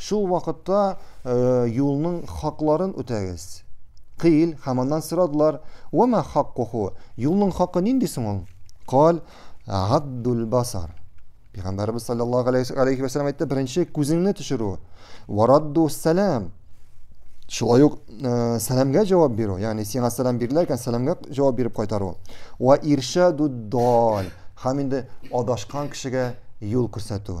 Шул вакытта юлның хакларын үтәгез. Кыйл, һәм аннан сорадылар, «Вәмә хаккуху?» Юлның хакы нинди соң ул? Кал, «Гаддул басар». Пәйгамбәрбез саллаллаһу алейхи ва саллям әйтте, беренче күзеңне төшерү. Варадду сәлам. Шулай ук э, сәламгә җавап бирү, ягъни сиңа сәлам бирелә икән, сәламгә җавап биреп кайтару. Ва иршаду дал. Һәм инде адашкан кешегә юл күрсәтү.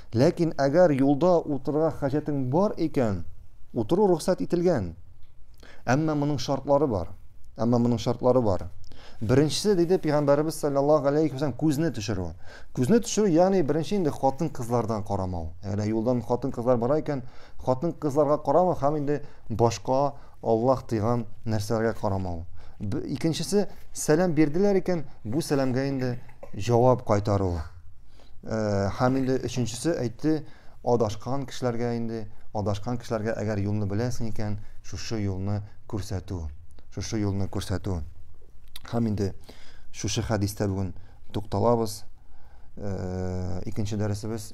Ләкин әгәр юлда утырырга хаҗәтең бар икән, утыру рөхсәт ителгән. Әмма моның шартлары бар. Әмма моның шартлары бар. Беренчесе диде пәйгамбәребез саллаллаһу алейхи вәсәлләм күзне төшерү. Күзне төшерү, ягъни беренче инде хатын-кызлардан карамау. Әгәр юлдан хатын-кызлар бара икән, хатын-кызларга карамау һәм инде башка Аллаһ тыйган нәрсәләргә карамау. Икенчесе, сәлам бирделәр икән, бу сәламгә инде җавап кайтару. Һәм инде өченчесе әйтте, адашкан кешеләргә инде, адашкан кешеләргә әгәр юлны беләсең икән, шушы юлны күрсәтү. Шушы юлны күрсәтү. Һәм инде шушы хәдистә бүген тукталабыз. Икенче дәресебез